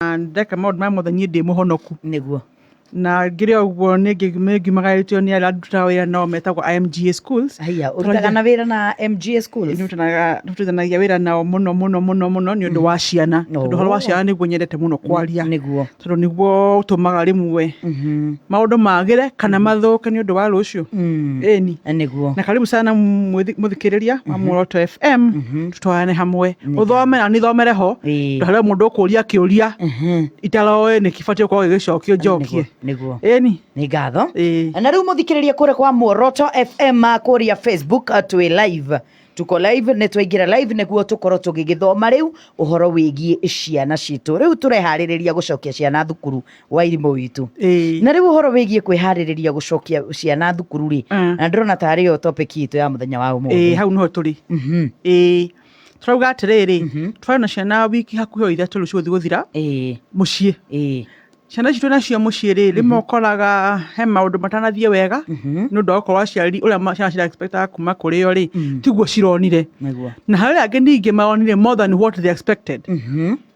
Na ndeka maũndũ maya mothe niĩ ndĩ mũhonoku nĩguo na ngĩrĩ o ũguo nĩngĩ- nĩngiumagaĩtio nĩ arĩa ndutaga wĩra nao metagwo IMGA schools haiya ũrutaga na wĩra na mga schools Nĩtũtanaga- nĩtũrutithanagia wĩra nao mũno mũno mũno mũno nĩ ũndũ wa ciana No. tondũ ũhoro wa ciana nĩguo nyendete mũno kwaria nĩguo tondũ nĩguo ũtũmaga rĩmwe Mhm. maũndũ magĩre kana mathũke nĩ ũndũ wa rũciũ Mm. ĩni nĩguo na karibu sana mũthi- mũthikĩrĩria wa muoroto fm twarane hamwe Nĩ uthome na nithomere ho Ĩĩ. ndahare mundu ukuria kiuria Mhm. itaroe ni kibati ukorwo gigicokio njokie Nĩguo, nĩguo ĩni nĩ ngatho Ĩĩ. na rĩu mũthikĩrĩria kũrĩa kwa muoroto fm kũrĩa facebook uh, twĩ live tuko live nĩ twaingĩra live nĩguo tũkorwo tũgĩgĩthoma rĩu ũhoro wĩgiĩ ciana citũ rĩu tũreharĩrĩria gũcokia ciana thukuru wairimũ witũ Ĩĩ. na rĩu ũhoro wĩgiĩ kwĩharĩrĩria gũcokia ciana thukuru rĩ Mm. na ndĩrona tarĩ yo topic itũ ya mũthenya wa Ĩĩ, ũmũthĩ hau nĩho tũrĩ Mhm. Ĩĩ. tũrauga atĩrĩrĩ Mhm. twarĩ na ciana wiki hakuhĩ o ithatũ rĩu cigũthiĩ gũthira Ĩĩ, mũciĩ ĩĩ. ciana ici twĩ nacio mũciĩ rĩ rĩmwe ũkoraga he maũndũ matanathiĩ wega Mhm. nĩ ũndũ wa gũkorwo aciari ũrĩa ma- ciana cira expectaga kuma kũrĩ o rĩ Mhm. tiguo cironire Nĩguo. na harĩ angĩ ningĩ maronire more than what they expected Mhm.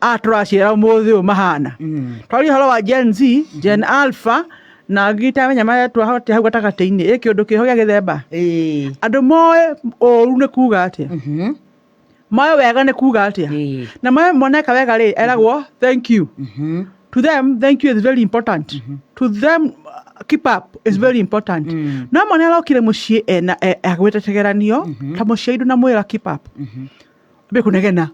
a tũraciara ũmũthĩ ũyũ mahana twaria ũhoro wa gen z gen alpha na angĩ itamenya marĩa twahotire hau gatagatĩ-inĩ ĩ kĩũndũ kĩho gĩa gĩthemba Ĩĩ. andũ moĩ ũru nĩ kuga atĩa Mhm. moĩ wega nĩ kuga atĩa Ĩĩ. na moĩ moneka wega rĩ eragwo thank you Mhm. to them thank you is very important to them uh, keep up is very important Mm. no mwana arokire mũciĩ ena e- agwĩtetegeranio ta mũciari ndũnamwĩra keep up mbĩ kũnegena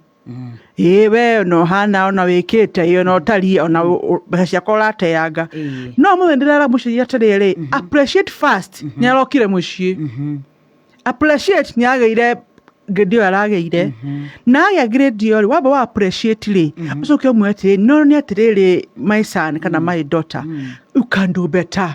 ĩ we ona ũhana ona wĩkĩte ĩ ona ũtariĩ ona ũ- ũ- mbeca ciakwa ũrateanga Ĩĩ. no mũthenya ndĩrera mũciari atĩrĩrĩ appreciate first nĩ arokire mũciĩ appreciate nĩ agĩire ngĩndi ĩyo aragĩire na agĩa ngirĩndi ĩyo rĩ wamba wa appreciate rĩ ũcoke ũmwe atĩrĩrĩ no nĩ atĩrĩrĩ my son kana my daughter you can do better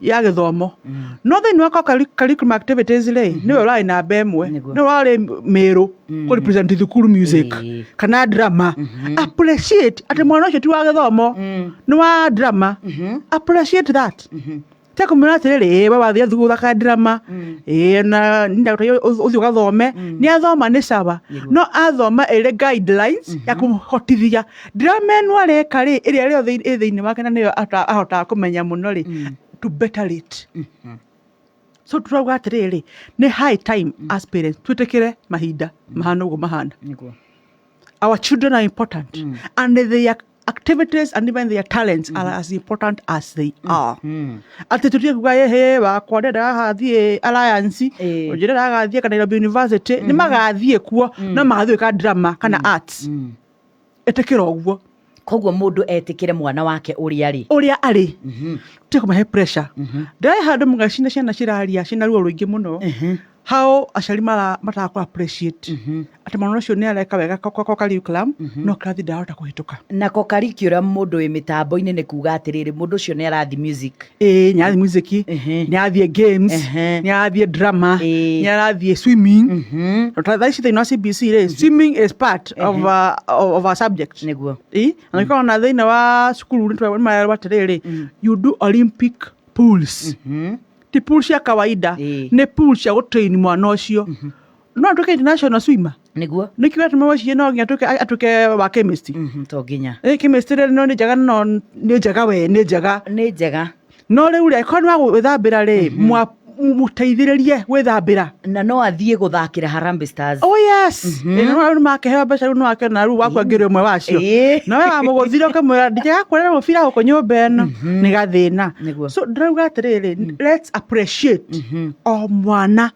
ya gĩthomo no thĩinĩ wa curri- curriculum activities rĩ nĩwe ũrarĩ namba ĩmwe Nĩguo. nĩwe ũrarĩ mĩrũ kũ represent thukuru music Ĩĩ. kana drama appreciate atĩ mwana ũcio ti wa gĩthomo nĩ wa drama appreciate that te kũmwĩra atĩrĩrĩ "Ĩĩ, we wathiĩ thukuru thaka drama ĩĩ, na nĩndagũteithia ũth- ũthiĩ ũgathome nĩ athoma nĩ caba no athoma ĩrĩ guidelines ya kũhotithia Drama ĩno areka rĩ ĩrĩa rĩothe ĩ thĩinĩ wake na nĩyo ahota- ahotaga kũmenya mũno rĩ Mm. to better late Mhm. so turauga atĩrĩrĩ nĩ high time as parents twĩtĩkĩre mahinda mahana ũguo mahana Nĩguo. our children are important Mm. and their activities and even their talents are as important as they are Mm. atä tå tiä kuga ä wakwa ndä ndagathiä alliance Ĩĩ. njä ndagathiä ka nairobi university nä magathiä kuo no magathiä ka drama kana arts Mm. etĩkĩra ũguo koguo mũndũ etĩkĩre mwana wake ũrĩa rĩ ũrĩa arĩ Mhm, tiga kũmahe pressure mhm, ndaĩ handũ mũgacina ciana ciraria ciĩna ruo rũingĩ mũno mhm, hao aciari mara- mataga kũ appreciate mhm. atĩ mwana ũcio nĩ areka wega ko- ko- ko curriculum Mhm. no kĩrathi ndarahota kũhĩtũka nako curriculum mũndũ wĩ mĩtambo-inĩ nĩ kuga atĩrĩrĩ mũndũ ũcio nĩ arathi music ĩĩ nĩ arathiĩ music Ehe. nĩ arathiĩ games Ehe. nĩ arathiĩ drama Ĩĩ. nĩ arathiĩ swimming Mhm. thaa ici thĩinĩ wa cbc rĩ swimming is part of, uh, of our subject nĩguo Ĩ, na nĩkoragwo ona thĩinĩ wa cukuru nĩmarerwo atĩrĩrĩ you do olympic pools Mhm. ti pool cia kawaida Ĩĩ. nĩ pool cia gũtrain mwana ũcio no atuĩke international swimmer nĩguo nĩkĩ atũme wecirie no nginya atuĩke atuĩke wa chemist Mhm, to nginya ĩ chemist rĩ no nĩ njega no nĩ njega we nĩ njega nĩ njega no rĩu rĩ korwo nĩ wa gwĩthambĩra rĩ mwa- mũteithĩrĩrie gwĩthambĩra na no athiĩ gũthakĩra Harambee Stars oh yes nĩ makĩheo mbeca rĩu nĩ wakĩona rĩu wakua ngĩrĩ ũmwe wacio Ĩĩ. na we wamũgũthire ũkamwĩra ndijega kuonera mũbira gũkũ nyũmba ĩno nĩ gathĩna Nĩguo. so ndĩrauga atĩrĩrĩ let's appreciate o mwana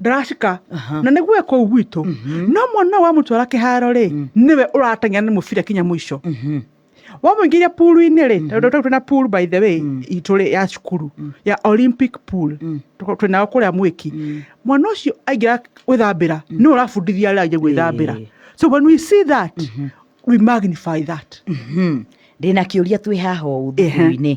ndaracika Aha. na nĩguo ekũu gwitũ no mwana ũyũ wamũtwara kĩharo rĩ nĩwe ũrateng'era nĩ mũbira kinya mũico wamũingĩria puru-inĩ rĩ tondũ tondũ twĩna puru by the way itũ rĩ ya cukuru ya olympic pool Tũ- twĩnayo kũrĩa mwĩki mwana ũcio aingĩra gwĩthambĩra nĩwe ũrabundithia arĩa angĩ gwĩthambĩra Ĩĩ. so when we see that we magnify that ndĩna kĩũria twĩ haha ũũ Ehe. thukuru-inĩ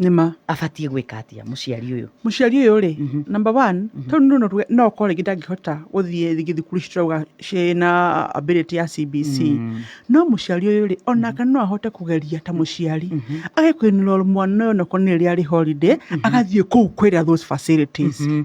nĩma abatiĩ gwĩka atĩa mũciari ũyũ mũciari ũyũ rĩ Mhm. number one tondũ nĩ ũndũ tuge- no ũkorwo rĩngĩ ndangĩhota gũthiĩ rĩngĩ thukuru ici turauga ciĩna ability ya cbc Mm. no mũciari ũyũ rĩ onake no ahote kũgeria ta mũciari agĩkwĩnĩra mwana ũyũ onakorwo nĩ rĩrĩa arĩ holiday agathiĩ kũu kwĩra those facilities Mhm.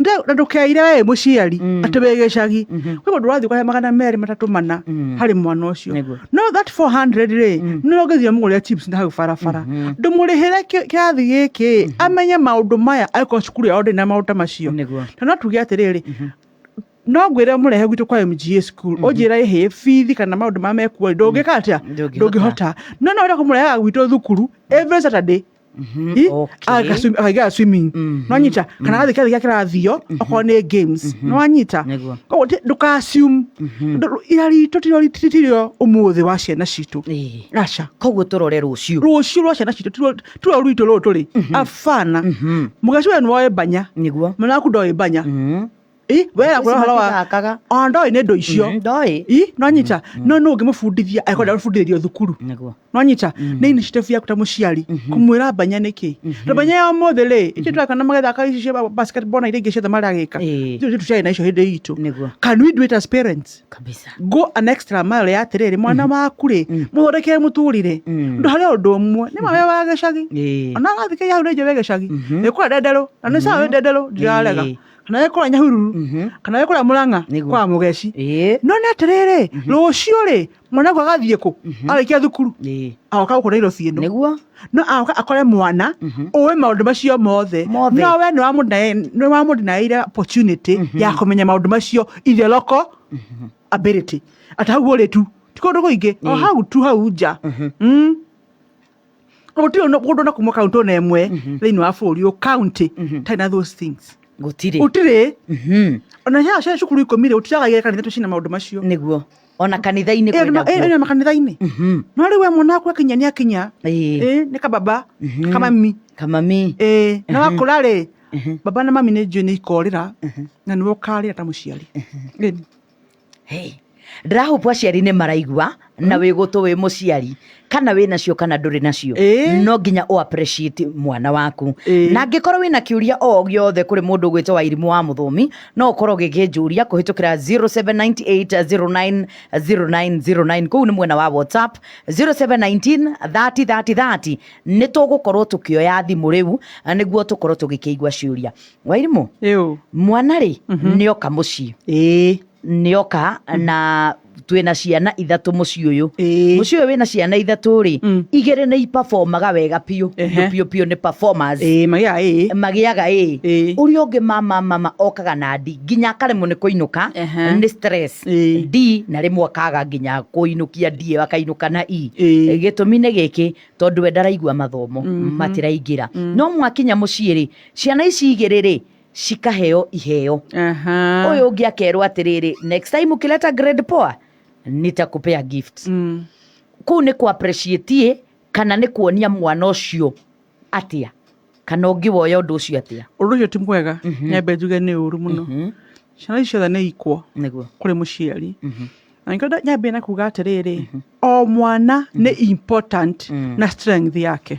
Nda- na ndũkeire we mũciari Mm. atĩ wĩ gĩcagi Mhm. kwĩ mũndũ ũrathiĩ ũkahe magana merĩ matatũ mana Mm. harĩ mwana ũcio Nĩguo. no that 400 rĩ Mm. nĩ ũngĩthire mũgũrĩre chips na hau barabara Mhm. ndũmũrĩhĩre kĩ- kĩrathi gĩkĩ amenye maũndũ maya akorwo cukuru yao ndĩna maũndũ ta macio Nĩguo. na no tuge atĩrĩrĩ no ngwĩre mũrehe gwitũ kwa mga school ũnjĩra ĩhĩ bithi kana maũndũ ma mekuo ndũngĩka atĩa Ndũngĩhota. ndũngĩhota no no wenda kũmũrehaga gwitũ thukuru every saturday Mhm, I- okay. aga swim- akaingĩra swimming Mhm, nonyita kana gathĩ kĩathĩ gĩa kĩrathio okorwo nĩ games nĩwanyita Nĩguo. koguo ti- ndũkasum ira ritũ tirio tirio ũmũthĩ wa ciana citũ Ĩĩ. aca koguo tũrore rũciũ rũciũ rwa ciana citũ tiruo- tiruo rwitũ rũrũ tũrĩ abana mũgaciwe nĩwoĩ mbanya nĩguo mwana waku ndoĩ mbanya Mhm. Ĩ, we Thikũ yakũra ici ũhoro wa matithakaga. ona ndoĩ nĩ ndũ icio Mm, ndoĩ Ĩ, nonyita no nũ ũngĩmũbundithia akorwo ndamũbundithĩrio thukuru nĩguo nonyita nĩ initiative yaku ta mũciari kũmwĩra mbanya nĩkĩ na mbanya ya ũmũthĩ rĩ ithuĩ tũrakana magĩthaka ici cia basketball na iria ingĩ ciothe maragĩka Ĩĩ. ithuĩ tũtiarĩ na icio hĩndĩ itũ Nĩguo. can we do it as parents kabisa go an extra mile ya atĩrĩrĩ mwana waku rĩ mũthondekere mũtũrĩre ndå harä å ndå ũmwe nä mawe wa gä cagi Ĩĩ. ona arathikä hau nä njä wä gä cagi nä kå rä ndenderå na nä sawa wä ndenderå ndirarega Ĩĩ. kana wĩ kũrĩa nyahururu Mhm. kana wĩ kũrĩa mũrang'a Nĩguo. kwa mũgeci Ĩĩ. no nĩ atĩrĩrĩ rũciũ rĩ mwanangu agathiĩ kũ arĩkia thukuru Ĩĩ. agoka gũkũ nairobi ĩno Nĩguo. no agoka akore mwana Mhm. ũĩ maũndũ macio mothe Mothe. no we nĩ wamũdinaĩire opportunity ya kũmenya maũndũ macio ithe loko ability atĩ hau ũrĩ tu ti kũndũ kũingĩ o Ĩĩ. hau tu hau nja Mhm. Mm. gũtirĩ no- mũndũ na kuma kaunti ona ĩmwe thĩinĩ wa bũrũri ũyũ kaunti tarĩ na those things gũtirĩ gũtirĩ Mhm. ona cia cia cukuru ikũmi rĩ gũtiraga igĩrĩ kanitha tũcina maũndũ macio nĩguo ona kanitha-inĩ kwĩ naguo ĩna makanitha-inĩ Mhm. no rĩu we mwana waku akinya nĩ akinya Ĩĩ. Ĩĩ, nĩ kababa Mhm. kamami kamami Ĩĩ, na wakũra rĩ baba na mami nĩ njũĩ nĩ ikorĩra na nĩwe ũkarĩra ta mũciari Ĩĩ. Hey, ndĩrahũbu aciari nĩ maraigua na wĩ gũtũ wĩ mũciari kana wĩ nacio kana ndũrĩ nacio Ĩĩ. no nginya ũ appreciate mwana waku Ĩĩ. na angĩkorwo wĩna kĩũria o gĩothe kũrĩ mũndũ ũgwĩtwo wa irimũ wa mũthũmi no ũkorwo gĩkĩnjũria kũhĩtũkĩra 0798090909 kũu nĩ mwena wa whatsapp 0719303030 nĩ tũgũkorwo tũkĩoya thimũ rĩu nĩguo tũkorwo tũgĩkĩigua ciũria wairimũ ĩũ mwana rĩ Mhm. nĩ oka mũciĩ ĩĩ nĩ oka na twĩna ciana ithatũ mũciĩ ũyũ ĩĩ mũciĩ ũyũ wĩna ciana ithatũ rĩ Mm. igĩrĩ nĩ ipabomaga wega biũ Ehe. biũ biũ biũ nĩ performers ĩĩ magĩaga ĩĩ magĩaga ĩ Ĩĩ. ũrĩa ũngĩ mama mama okaga na ndi nginya akaremwo nĩ kũinũka Ehe. nĩ stress Ĩĩ. d na rĩmwe akaga nginya kũinũkia d ĩyo akainũka na e Ĩĩ. gĩtũmi nĩ gĩkĩ tondũ we ndaraigua mathomo matiraingĩra no mwakinya mũciĩ rĩ ciana ici igĩrĩ rĩ cikaheo iheo Aha. ũyũ ũngĩ akerwo atĩrĩrĩ next time ukileta grade poa nitakupea gift Mm. kuu nĩ ku appreciate kana nĩ kuonia mwana ũcio atĩa kana ũngĩwoya ũndũ ũcio atĩa ũndũ ũcio ti mwega nyambe njuge nĩ ũru mũno ciana ici ciothe nĩ ikwo nĩguo kũrĩ mũciari na nĩkĩo nda- nyambie na kuga atĩrĩrĩ o mwana nĩ important na strength yake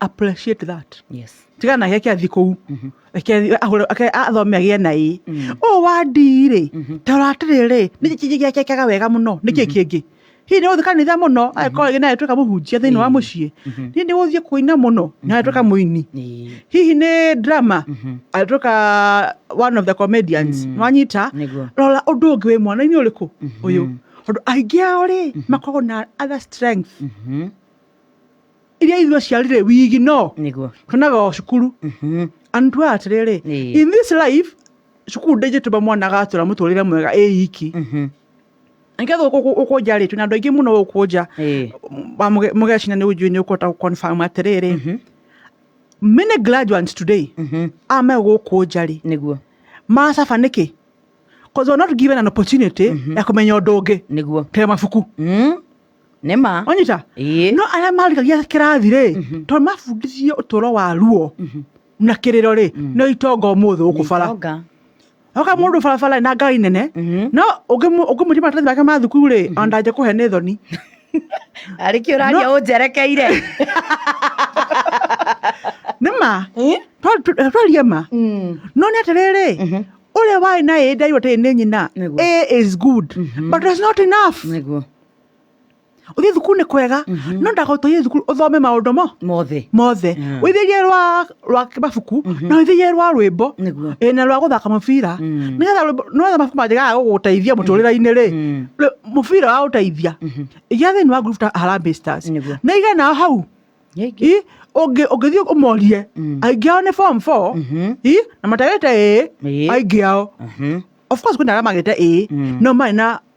appreciate that yes tiga nake ake athi kuu Ake- ahũre- ake- athome agĩe na ĩ ũũ wa ndii rĩ ta ũratĩrĩ rĩ nĩ kĩgĩakekaga wega mũno nĩ kĩ kĩngĩ hihi nĩ gũthiĩ kanitha mũno agĩkorwo agĩ naye twĩka mũhunjia thĩinĩ wa mũciĩ hihi nĩ gũthiĩ kũina mũno nawe twĩka mũini Ĩĩ. hihi nĩ drama agĩtuĩka one of the comedians nwanyita Nĩguo. rora ũndũ ũngĩ wĩ mwana-inĩ ũrĩkũ ũyũ tondũ aingĩ ao rĩ makoragwo na other strength Mhm. iria ithuĩ aciari rĩ wigi no nĩguo tuonaga o cukuru Mhm. andu aya atirĩrĩ Ĩĩ. in this life cukuru ndĩngĩtũma mwana agatura mũtũrĩre mwega ĩ iki Mhm. nĩgetha gũkũ nja rĩ twĩna andũ aingĩ mũno gũkũ nja Ĩĩ. Ma- mũge- mũgecina nĩ ũnjui nĩ ũkũhota gũconfirm atĩrĩrĩ many graduates today Mhm. a me gũkũ nja rĩ nĩguo macaba nĩkĩ cause we're not given an opportunity ya kũmenya ũndũ ũngĩ nĩguo tee mabuku Mm. nĩ ma onyita Ĩĩ. no arĩa marĩkagia kĩrathi rĩ tondũ mabundithio ũtũro wa ruo na kĩrĩro rĩ no itonga ũmũthĩ gũkũ bara Itonga. oka mũndũ barabara na ngari nene Mhm. no ũngĩmũ- ũngĩmũria maratathi make ma thukuru rĩ ona ndangĩja kũhe nĩ thoni arĩ kĩ ũraria No. ũnjerekeire nĩ ma Ĩ? Twa- twa- twarie ma Mm. no nĩ atĩrĩrĩ Mhm. ũrĩa warĩ na ĩ ndairwo tĩrĩ nĩ nyina Nĩguo. a is good but it's not enough nĩguo uthiä thukuru nä kwega no ndaka uthiä thukuru uthome maundu mo mothe mothe Mm. withĩrie rwa rwa mabuku na withĩrie rwa rwĩmbo Nĩguo. ĩ, na rwa gũthaka mũbira Mm. nĩgetha rwĩmbo- nĩgetha mabuku manjĩkaga gũgũteithia mũtũrĩre-inĩ rĩ Mm. rĩ- mũbira wa gũteithia igia thĩinĩ wa group ta Harambee Stars Nĩguo. na iga nao hau Yĩngĩ. i ũngĩ- ũngĩthiĩ ũmorie Mm. aingĩ ao nĩ form four Mhm. i na matagĩte ĩ Ĩ. aingĩ ao Mhm. of course kwĩna arĩa magĩte ĩ Mm. no marĩ na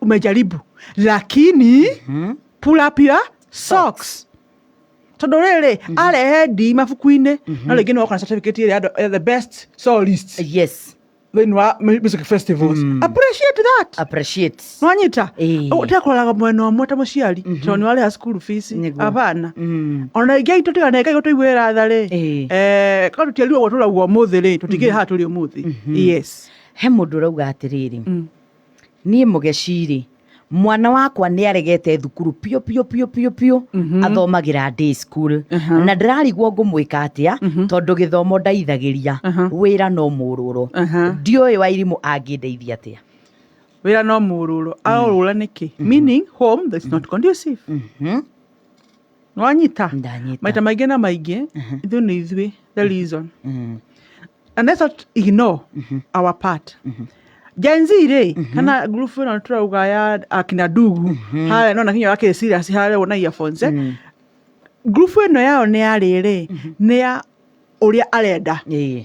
umejaribu lakini hmm? pull up your socks tondå rä rä mhm. arehe ndi mabuku-inä mhm. no rä ngä nä wakona certificate ä rä eh, the best solist yes thĩinĩ wa music festivals mm. appreciate that appreciate nwanyita eh. tega kũraraga mwena ũmwe ta mũciari mhm. tondũ nĩ warĩha cukuru fees abana mm. ona ingĩ aitũ tiga na ngai gũtũigue ratha rĩ eh. eh, korwo tũtiarirwo gũtũraguo ũmũthĩ rĩ tũtigĩrĩ mm-hmm. haha tũrĩ ũmũthĩ mm-hmm. yes he mũndũ ũrauga atĩrĩrĩ mm. niĩ mũgeci-rĩ mwana wakwa nĩ aregete thukuru biũ biũ biũ biũ biũ athomagĩra day school na ndĩrarigwo ngũmwĩka atĩa tondũ gĩthomo ndaithagĩria wĩra no mũrũrwo ndiũĩ wairimũ angĩndeithia atĩa wĩra no mũrũrwo arorũra nĩkĩ meaning home that's not conducive nĩwanyita Ndanyita. maita maingĩ na maingĩ ithuĩ nĩ ithuĩ the reason Mm. and let's not ignore our part Gen Z rĩ kana group ĩno tũrauga ya akina ndugu harĩa nona kinya wakĩrĩ serious harĩa wona earphones eh? Mm. group ĩno yao nĩ ya rĩrĩ nĩ ya ũrĩa arenda Ĩĩ.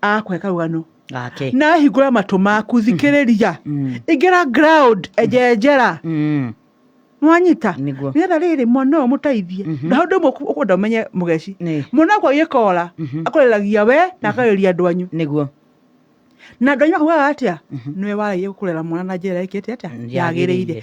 akwe karũgano gake na ahingũra matũ maku thikĩrĩria Mm. ingĩra ground enjenjera Mm. nwanyita Nĩguo. nĩgetha rĩrĩ mwana ũyũ mũteithie na hau ndĩmwe ũkwenda ũmenye mũgeci Nĩ. mwana wakwa gĩkora Mhm. akũreragia we na akarĩria andũ anyu nĩguo na andũ anyu makugaga atĩa nĩwe waragia kũrera mwana na njĩra ĩkĩte atĩa Yagĩrĩire. yagĩrĩire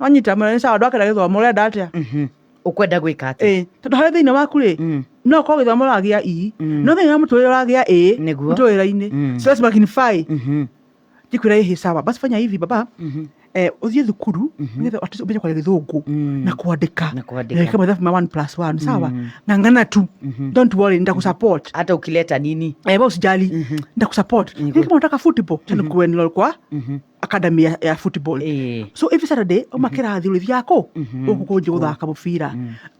wanyita mũrĩa nĩ sawa andũ akenda gĩthomo ũrenda atĩa Mhm. ũkwenda gwĩka atĩ ĩĩ tondũ harĩ thĩinĩ waku rĩ Mm. no ũkorwo gĩthomo ũragĩa ii Mm. no thĩinĩ wa mũtũrĩre ũragĩa ĩĩ Nĩguo. mũtũrĩre-inĩ Mm. so lazima kinify Mhm. ndikwĩra ĩhĩ sawa basi fanya hivi baba Mhm. eh, ũthiĩ thukuru nĩgetha at least ũmenye kwaria gĩthũngũ Mm. na kwandĩka Na kwandĩka. Reke mathabu ma one plus one sawa Mm. ng'ang'ana tu Mhm. don't worry nitakusupport hata ukileta nini Eh, wewe usijali nitakusupport Niko- lakini kama unataka football tena kuwe ni kwa Mhm. academy ya, ya football Eh. so every saturday uma kĩrathi ũrĩthiaga kũ gũkũ kũnjĩ gũthaka mũbira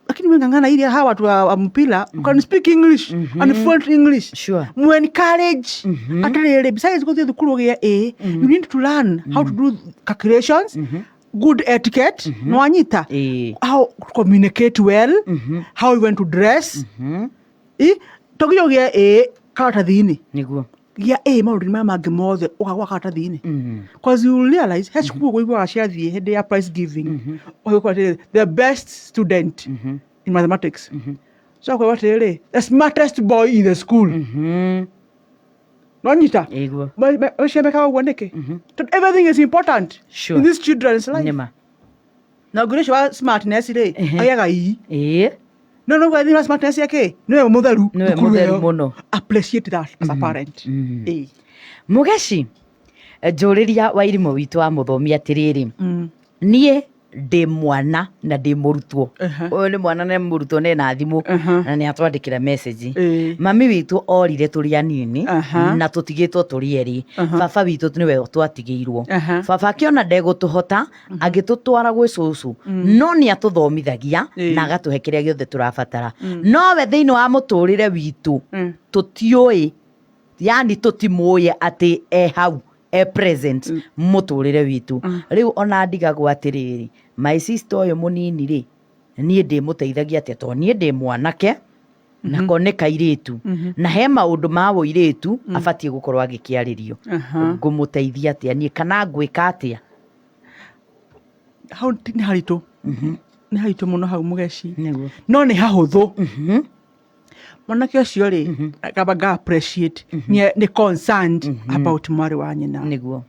lakini we ng'ang'ana iria hawa watu wa wa mpira you can speak english and fluent english Sure. mu encourage atarĩrĩ besides gũthiĩ thukuru ũgĩa a you need to learn how to do calculations good etiquette nĩ wanyita Eh. how to communicate well how you want to dress Eh, to nginya ũgĩa a karatathi-inĩ niguo Gia A maũndũ maya mangĩ mothe ũgagwa karatathi-inĩ cause you will realize he cukuru ũiguaga ciathiĩ hĩndĩ ya prize giving ũgĩkora atĩrĩrĩ the best student in mathematics so ũkauga atĩrĩrĩ the smartest boy in the school nonyita Ĩguo. ũcio mekaga ũguo nĩkĩ tondũ everything is important Sure. in these children's life Nĩma. na nguri ũcio wa smartness rĩ Ehe. agĩaga ii ĩĩ no no gwa thina smartness yake nĩwe mũtheru nĩwe thukuru mũtheru ĩyo. mũno appreciate that as a parent Mhm. Ĩĩ. mũgeci njũrĩria wa irimũ witũ wa mũthomi atĩrĩrĩ Mm. niĩ ndĩ mwana na ndĩ mũrutwo Aha. ũyũ nĩ mwana na nĩ mũrutwo na ena thimũ Aha. na nĩ atwandĩkĩra message Ĩĩ. mami witũ orire tũrĩ anini Aha. na tũtigĩtwo tũrĩ erĩ Aha. baba witũ nĩwe twatigĩirwo Aha. baba akĩona ndegũtũhota agĩtũtwara gwĩ cũcũ no nĩ atũthomithagia Ĩĩ. na agatũhe kĩrĩa gĩothe tũrabatara nowe thĩinĩ wa mũtũrĩre witũ Mm. tũtiũĩ yani tũtimũĩ atĩ e hau e present mũtũrĩre witũ rĩu ona ndigagwo atĩrĩrĩ my sister ũyũ mũnini rĩ niĩ ndĩmũteithagia atĩa tondũ niĩ ndĩ mwanake nako nĩ kairĩtu na he maũndũ ma ũirĩtu abatiĩ gũkorwo agĩkĩarĩrio Aha. ngũmũteithia atĩa niĩ kana ngwĩka atĩa hau ti- nĩ haritũ nĩ haritũ mũno hau mũgeci nĩguo no nĩ hahũthũ mwanake ũcio rĩ akamba nga appreciate nĩ nĩ concerned about mwarĩ wa nyina nĩguo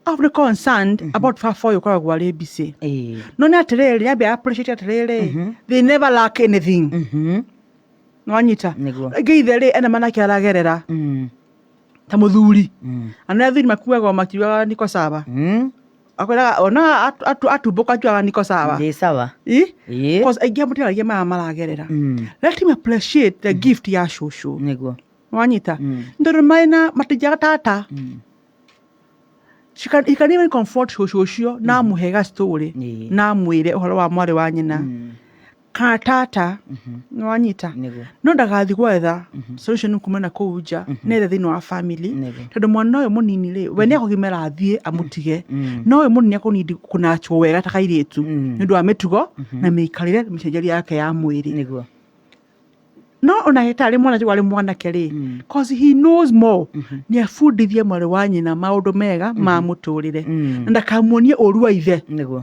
abu nĩ concerned about baba ũyũ ũkoragwo arĩ busy Ĩĩ. no nĩ atĩrĩrĩ ambia appreciate atĩrĩrĩ they never lack anything Mhm. nĩwanyita Nĩguo. rĩngĩ ithe rĩ ena manake aragerera Mm. ta mũthuri Mm. anaa athuri makuaga o makiugaga niko saba Mm. akwĩraga ona atu- atu- atumbũka njuaga niko sawa Ndĩ sawa. Ĩ? Ĩ. Cause aingĩ amũtiragia maya maragerera Mm. let him appreciate the gift ya cũcũ Nĩguo. wanyita Mm. ndorä maä na matinjaga tata Mm. She can- he can even comfort cũcũ ũcio na amũhe gastorĩ Ĩ. na amwä re å horo wa mwarä wa nyina Mm. kana tata nĩ wanyita Nĩguo. no ndagathiĩ gwetha solution kuma na kũu nja nethe thĩinĩ wa family Nĩguo. tondũ mwana ũyũ mũnini rĩ we nĩ akũgimara athiĩ amũtige no ũyũ mũnini akũnindi kũnachwo wega ta kairĩtu nĩ ũndũ wa mĩtugo na mĩikarĩre na mĩcenjerie yake ya mwĩrĩ nĩguo no ona hetarĩ mwana warĩ mwanake rĩ cause he knows more nĩ abundithie mwarĩ wa nyina maũndũ mega ma mũtũrĩre na ndakamuonie ũru wa ithe nĩguo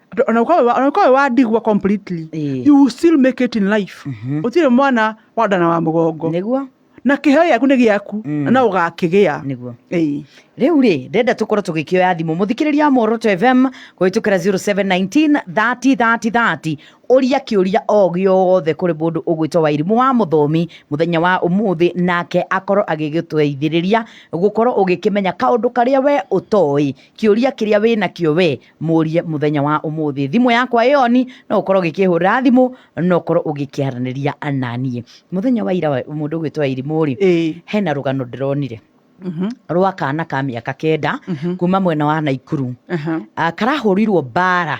Andũ- ona ũkorwo wĩ wa- ona ũkorwo wĩ wa ndigwa completely Ĩĩ. you will still make it in life ũtirĩ mwana wa ndana wa mũgongo nĩguo na kĩheo gĩaku nĩ gĩaku Mm. na no ũgakĩgĩa nĩguo Ĩĩ. rĩu rĩ ndenda tũkorwo tũgĩkĩoya thimũ mũthikĩrĩria wa moroto fm kũhĩtũkĩra 07193030 ũria kĩũria o gĩothe kũrĩ mũndũ ũgwĩtwo wairimũ wa mũthomi mũthenya wa ũmũthĩ nake akorwo agĩgĩtũteithĩrĩria gũkorwo ũgĩkĩmenya kaũndũ karĩa we ũtoĩ kĩũria kĩrĩa wĩnakĩo we mũrie mũthenya wa ũmũthĩ thimũ yakwa ĩoni no ũkorwo ũgĩkĩhũra thimũ no ũkorwo ũgĩkĩaranĩria ananiĩ mũthenya wa ira wa- mũndũ ũgwĩtwo irimũ rĩ Ĩĩ. hena rũgano ndĩronire Mhm. rwa kana ka mĩaka kenda Mhm. kuma mwena wa naikuru Aha. Ah, karahũrirwo mbara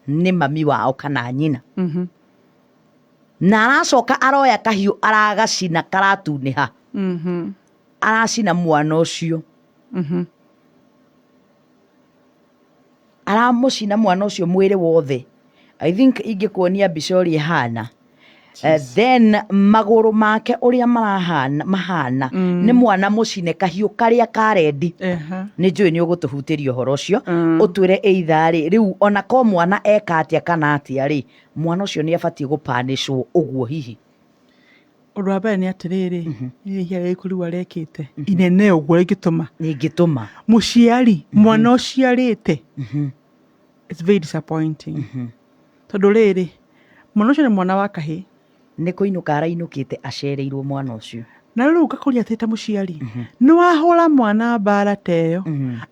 nĩ mami wao kana nyina Mhm. na aracoka aroya kahiũ aragacina karatunĩha Mhm. aracina mwana ũcio Mhm. aramũcina mwana ũcio mwĩrĩ wothe i think ingĩkuonia mbica ũrĩa ĩhana Eh, then magũrũ make ũrĩa marahana mahana nĩ mwana mũcine kahiũ karĩa ka rendi Eha. nĩ njũĩ nĩ ũgũtũhutĩria ũhoro ũcio Mm. ũtwĩre either rĩ rĩu ona ko mwana eka atĩa kana atĩa rĩ mwana ũcio nĩ abatiĩ gũpanĩcwo ũguo hihi Ũndũ wa mbere nĩ atĩrĩrĩ, nĩ rĩhia rĩrĩkũ rĩu arekĩte inene ũguo rĩngĩtũma Rĩngĩtũma. mũciari mwana ũciarĩte it's very disappointing tondũ rĩrĩ mwana ũcio nĩ mwana wa kahĩ Nĩ kũinũka arainũkĩte acereirwo mwana ũcio. na rĩu ngakũria atĩ ta mũciari nĩ wahũra mwana mbara ta ĩyo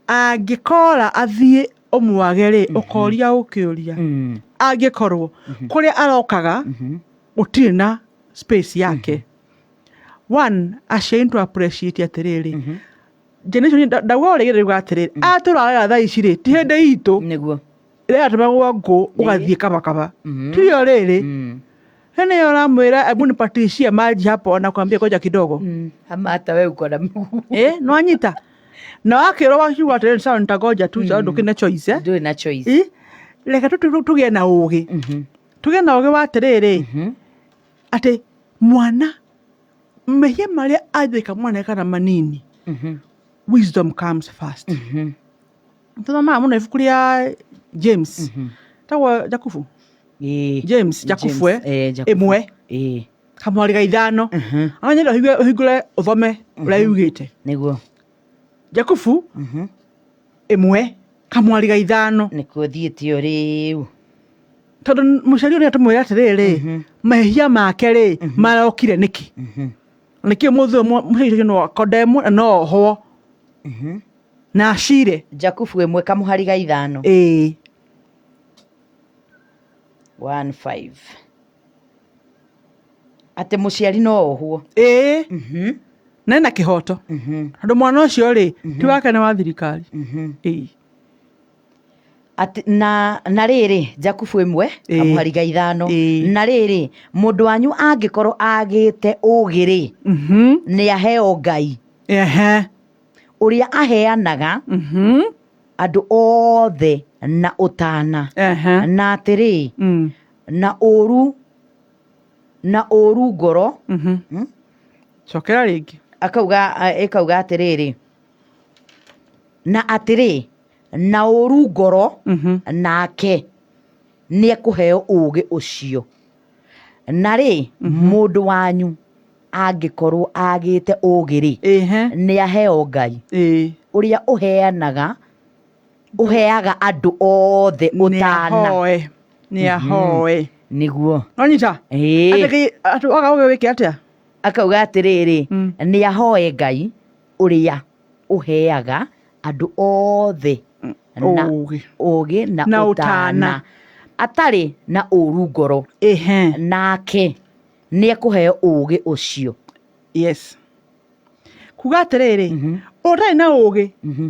angĩkora athiĩ ũmwage rĩ ũkoria ũkĩũria angĩkorwo kũrĩa arokaga gũtirĩ na space yake one aciari nĩ tũrapureciĩtie atĩrĩrĩ generation nda- ndauga ũrĩgĩrĩ riuga atĩrĩrĩ atũra wega thaa ici rĩ ti hĩndĩ itũ nĩguo rĩratũmagwo ngũ ũgathiĩ kabakaba tiyo rĩrĩ hene yo ũramwĩra ebu nipatishie maji hapo na kwambia koja kidogo ama hata we uko na mguu eh nwanyita na wakĩrwo wakiuga atĩrĩrĩ sawa nitagoja tu sawa ndũkĩne choice eh? ndũrĩ na choice Eh, reke tũ- tũ- tũgĩe na ũgĩ tuge na ũgĩ wa atĩrĩrĩ atĩ mwana mehia marĩa anjĩka mwana kana manini wisdom comes first tũthomaga mũno ibuku rĩa james tagwo jakubu Ĩĩ. james jakubu eh, eh, Jakubu. ĩmwe Ĩĩ. kamwarĩ ga ithano Mhm. anyenda ũhingũre ũthome ũrĩa yugĩte nĩguo Jakubu ĩmwe kamwari ga ithano nĩkuo thiĩte o rĩu tondũ mũcari ũrĩa tũmwĩra atĩrĩrĩ mahĩhia make rĩ marokire nĩkĩ na nĩkĩo mũthĩ mũcari ũcio no akodemwo na no ohwo na acire jakubu ĩmwe kamũhari ga ithano ĩĩ one five atĩ mũciari no ohwo ĩĩ Mhm, na ena kĩhoto mhm, tondũ mwana ũcio rĩ ti wake nĩ wa thirikari mhm. Ĩĩ. Atĩ- na na rĩrĩ jakubu ĩmwe Ĩĩ. amũhariga ithano Ĩĩ. na rĩrĩ mũndũ wanyu angĩkorwo agĩte ũgĩ-rĩ Mhm. nĩ aheo ngai Ehe. ũrĩa aheanaga Mhm. andũ othe na ũtana Ehe. na atĩrĩ Mm. na ũru na ũru ngoro cokera rĩngĩ akauga a- ĩkauga atĩrĩrĩ na atĩrĩ na ũru ngoro nake nĩ ekũheo ũũgĩ ũcio na rĩ mũndũ wanyu angĩkorwo agĩte ũũgĩ-rĩ nĩ aheo ngai ũrĩa ũheanaga ũheaga andũ othe ũtana nĩahoe nĩahoe nĩguo nonyita Ĩĩ. atĩ atĩ waga ũgĩ wĩke atĩa akauga atĩrĩrĩ Mm. nĩ ahoe ngai ũrĩa ũheaga andũ othe na ũgĩ ũgĩ na Na ũtana ũtana. atarĩ na ũru ngoro ehe nake nĩ ekũheo ũgĩ ũcio yes kuga atĩrĩrĩ Mhm. ũtarĩ na ũgĩ Mhm.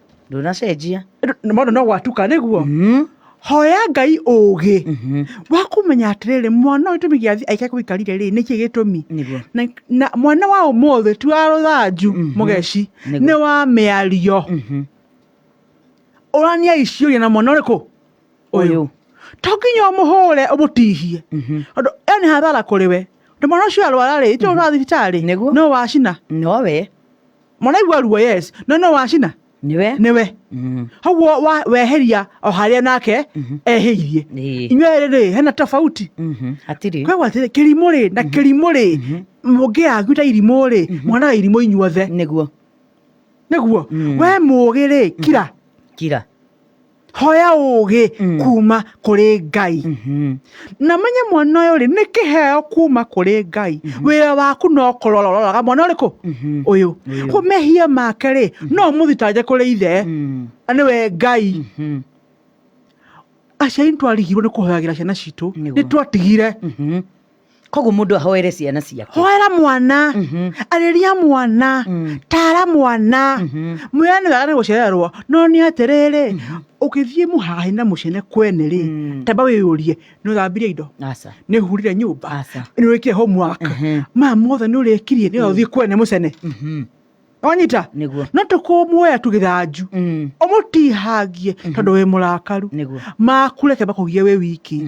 ndũnacenjia Nĩ maũndũ no gwatuka nĩguo Mm, hoya ngai ũgĩ mhm, wa kũmenya atĩrĩrĩ mwana ũyũ gĩtũmi gĩa aika kũikarire rĩ nĩkĩ gĩtũmi nĩguo na, na mwana wa ũmũthĩ ti wa rũthanju Mhm. mũgeci Nĩguo. nĩ wa mĩario Mhm, ũrania iciũria na mwana ũrĩkũ ũyũ to nginya ũmũhũre ũmũtihie mhm. tondũ ĩyo nĩ hathara kũrĩ we tondũ mwana ũcio arwara rĩ itũ ũrathiĩ thibitarĩ Nĩguo. no wacina nowe mũraigua ruo yes no no wacina nĩwe nĩwe hauo wa- weheria o harĩa nake ehĩirie Ĩĩ. inyuĩ rĩrĩ hena tofauti Mhm. hatirĩ kwegwa atĩrĩ kĩrimũ rĩ na kĩrimũ rĩ mũngĩagu ta irimũ rĩ mwana irimũ inyuothe nĩguo nĩguo we mũgĩ rĩ kira kira hoya ũũgĩ kuma kũrĩ ngai na menye mwana ũyũ rĩ nĩ kĩheo kuma kũrĩ ngai wĩra waku no kũrora ũroraga mwana ũrĩkũ ũyũ ko mehia make rĩ no ũmũthitange kũrĩ ithe na nĩwe ngai aciari nĩ twarigirwo nĩ kũhoyagĩra ciana citũ Nĩguo. nĩ twatigire koguo mũndũ ahoere ciana ciake hoera mwana arĩria mwana tara mwana mwĩra nĩ wega nĩ gũcererwo no nĩ atĩrĩrĩ ũgĩthiĩ mũhahe na mũcene kwene rĩ tamba wĩyũrie nĩ ũthambirie indo aca nĩ ũhurire nyũmba Aca. nĩ ũrĩkire homework Mhm. maya mothe nĩ ũrĩkirie nĩ ũthiĩ kwene mũcene wanyita Nĩguo. no tũkũmuoya tũgĩthanju Mm. ũmũtihangie tondũ wĩ mũrakaru Nĩguo. makureke makũgie wĩ wiki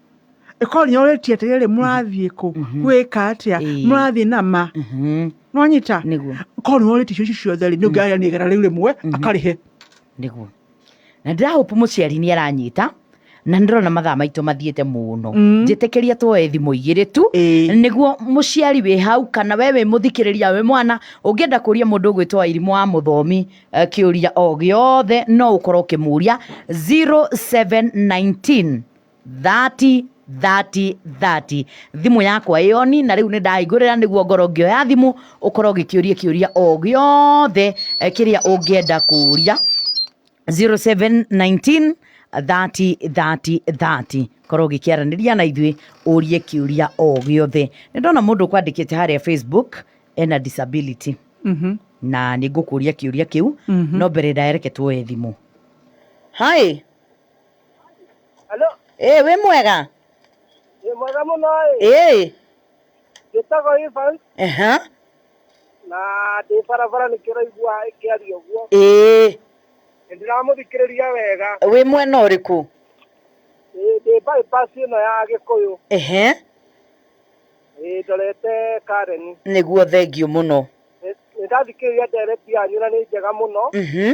ĩkoria ũrĩtie atĩrĩrĩ mũrathiĩ kũ gwĩka atĩa Ĩĩ. mũrathiĩ na ma Mhm. nonyita Nĩguo. korwo ũrĩtie icio ciothe rĩ nĩũngĩaria nĩ igana rĩu rĩmwe akarĩhe nĩguo na ndĩrahope mũciari nĩ aranyita na nĩ ndĩrona mathaa maitũ mathiĩte mũno Mm. njĩtĩkĩria tuoe thimũ igĩrĩ tu Ĩĩ. nĩguo mũciari wĩ hau kana we wĩ mũthikĩrĩria wĩ mwana ũngĩenda kũria mũndũ ũgwĩtwo wairimũ wa mũthomi eh, kĩũria o gĩothe no ũkorwo ũkĩmũria 0719 30 30 30 thimũ yakwa ĩoni na rĩu nĩ ndahingũrĩra nĩguo ngorwo ngĩoya thimũ ũkorwo ũgĩkĩũria kĩũria o gĩothe eh, kĩrĩa ũngĩenda kũũria 0719 30 30 30 korwo ũgĩkĩaranĩria na ithuĩ ũrie kĩũria o gĩothe nĩ ndona mũndũ ũkwandĩkĩte harĩa facebook ena disability Mhm. na nĩ ngũkũria kĩũria kĩu no mbere ndaereke tuoe thimũ hi Alo, ĩĩ wĩ mwega nĩ mwega mũno ĩ. ĩĩ Njĩtagwo Evans aha na ndĩ barabara nĩkĩo ũraigua ĩkĩaria ũguo. ĩĩ Nĩ ndĩramũthikĩrĩria wega. wĩ mwena ũrĩkũ Ĩ, Ndĩ bypass ĩno ya Gĩkũyũ. ehe Ĩ, Ndorete Karen. nĩguo thengiũ mũno Nĩ nĩ ndathikĩrĩria ndereti yanyu na nĩ njega mũno. Mhm.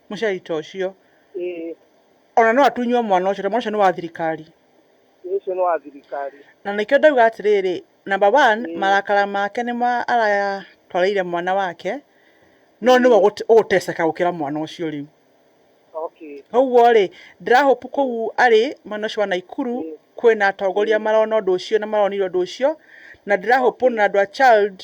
mũcai ta ũcio. Ĩĩ. O na no atunywo mwana ũcio, tondũ mwana ũcio nĩ wa thirikari. Ĩĩ ũcio nĩ wa thirikari. Na nĩkĩo ndauga atĩrĩrĩ, number one, marakara make nĩ ma aratwarĩire mwana wake, no nĩ we ũgũteceka gũkĩra mwana ũcio rĩu. Okay. Kwoguo rĩ, ndĩra hope kũu arĩ, mwena ũcio wa Naikuru, kwĩna atongoria marona ũndũ ũcio na maronire ũndũ ũcio, na ndĩra hope o na andũ a CHALD,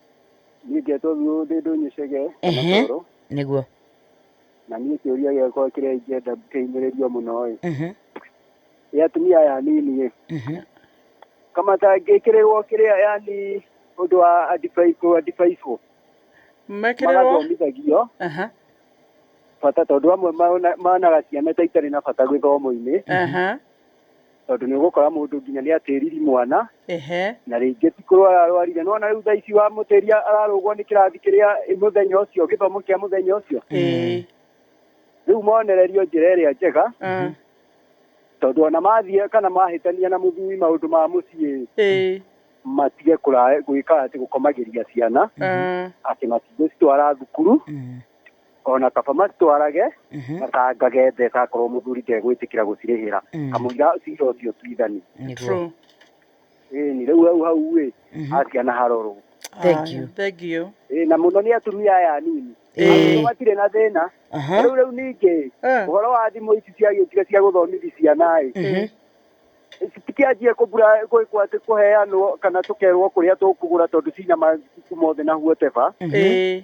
ndingĩetwo biũ ndĩ ndũnyicege Ehe. matoro nĩguo na niĩ kĩũria gĩakwa kĩrĩa ingĩenda kĩhinyĩrĩrio mũno ĩ Mhm, nĩ atumia aya anini ĩ mhm. kamatangĩkĩrĩrwo kĩrĩa yani ũndũ wa advice- kũ advice-wo mekĩrĩrwo magathomithagio Aha, bata tondũ amwe maona- monaga ciana ta itarĩ na bata gĩthomo-inĩ aha. tondũ nĩ ũgũkora mũndũ nginya nĩ atĩriri mwana ehe na rĩngĩ ti kũrwara ararwarire nona rĩu thaa ici wamũtĩria ararũgwo nĩ kĩrathi kĩrĩa mũthenya ũcio gĩthomo kĩa mũthenya ũcio ĩĩ rĩu monererio njĩra ĩrĩa njega ah, tondũ ona mathiĩ kana mahĩtania na mũthuri maũndũ ma mũciĩ ĩĩ matige kũra- gwĩka atĩ gũkomagĩria ciana ah. atĩ matigũcitwara thukuru ona kaba macitwarage Mhm. macangage mbeca akorwo mũthuri ndegwĩtĩkĩra gũcirĩhĩra Mm. kamũira cira ũcio tuithani Nĩguo. True. ni rĩu hau hau ĩ Mhm. aciana harorwo Thank Aya, you. Thank you. Ĩ, na mũno nĩ atumia aya anini Ĩĩ. Andũ matirĩ na thĩna Aha. rĩu rĩu ningĩ Eh. ũhoro wa thimũ ici ciagĩũkire cia gũthomithi ciana ĩ Mhm. tikĩanjie kũbura kwati kũheanwo kana tũkerwo kũrĩa tũkũgũra tondũ cina mabuku mothe na huoteba Mhm. Eh.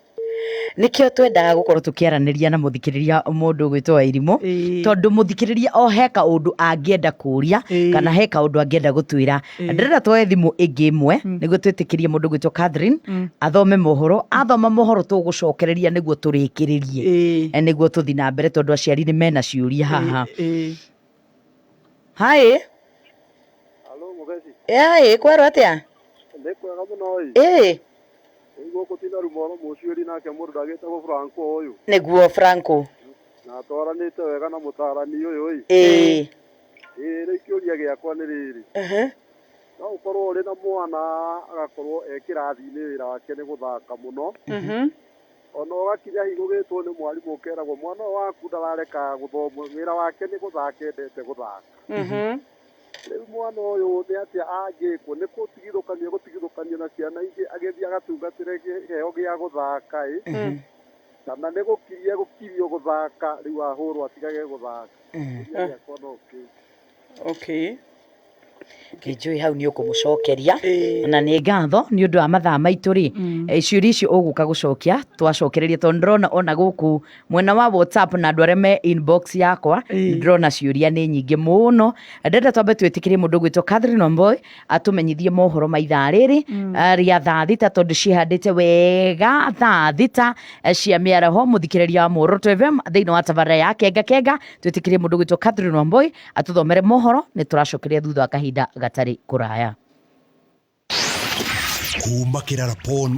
nĩkĩo twendaga gũkorwo tũkĩaranĩria na mũthikĩrĩria mũndũ ũgwĩtwo wairimũ Ĩĩ. tondũ mũthikĩrĩria o he kaũndũ angĩenda kũria Ĩĩ. kana he kaũndũ angĩenda gũtwĩra Ĩĩ. ndĩrenda twoe thimũ ĩngĩ ĩmwe nĩguo twĩtĩkĩrie mũndũ ũgwĩtwo Catherine athome mohoro athoma mohoro tũgũcokereria nĩguo tũrĩkĩrĩrie Ĩĩ. Eh, nĩguo tũthi na mbere tondũ aciari nĩ mena ciũria haha Ĩĩ. Hi. Halo Mugeci. Hi, kwero atia? Nĩ kwega mũno ĩ. Ĩ. Ũiguo kũtina rumoro mũciũri nake mũndũ ndagĩtagwo Franco ũyũ. Nĩguo Franco. Na atwaranĩte wega na mũtaarani ũyũ ĩ. Ĩ. Ĩ rĩu kĩũria gĩakwa nĩ rĩrĩ. Mhm. No ũkorwo ũrĩ na mwana agakorwo e kĩrathi-inĩ wĩra wake nĩ gũthaka mũno. Mhm. Ona ũgakinya hi gũgĩtwo nĩ mwarimũ ũkeragwo mwana ũyũ waku ndarareka gũthoma wĩra wake nĩ gũthaka endete gũthaka Mhm. rĩu mwana ũyũ nĩ atĩa angĩkwo nĩ gũtigithũkania gũtigithũkania na ciana ingĩ agĩthiĩ agatungatĩre kĩheo gĩa gũthaka ĩ Mhm. kana nĩ gũkiria gũkirio gũthaka rĩu ahũrwo atigage gũthaka Kĩũria gĩakwa no kĩu Okay. Kĩnjũĩ hau nĩ ũkũmũcokeria Ĩĩ. na nĩ ngatho nĩ ũndũ wa mathaa maitũ rĩ eh, ciũria icio ũgũka gũcokia twacokereria tondũ ndĩrona ona gũkũ mwena wa whatsapp na andũ arĩa me inbox yakwa Ĩĩ. ndĩrona ciũria nĩ nyingĩ mũno ndenda twambe twĩtĩkĩrie mũndũ gwĩtwo Catherine Wamboi atũmenyithie mohoro ma ithaa rĩrĩ mm. eh, rĩa thaa thita tondũ cihandĩte wega thaa thita eh, cia mĩaraho mũthikĩrĩria wa Muoroto FM thĩinĩ wa tabarĩra ya kenga kenga twĩtĩkĩrie mũndũ gwĩtwo Catherine Wamboi atũthomere mohoro nĩ tũracokeria thutha wa kahinda gatarĩ kũraya kuma kĩrara pon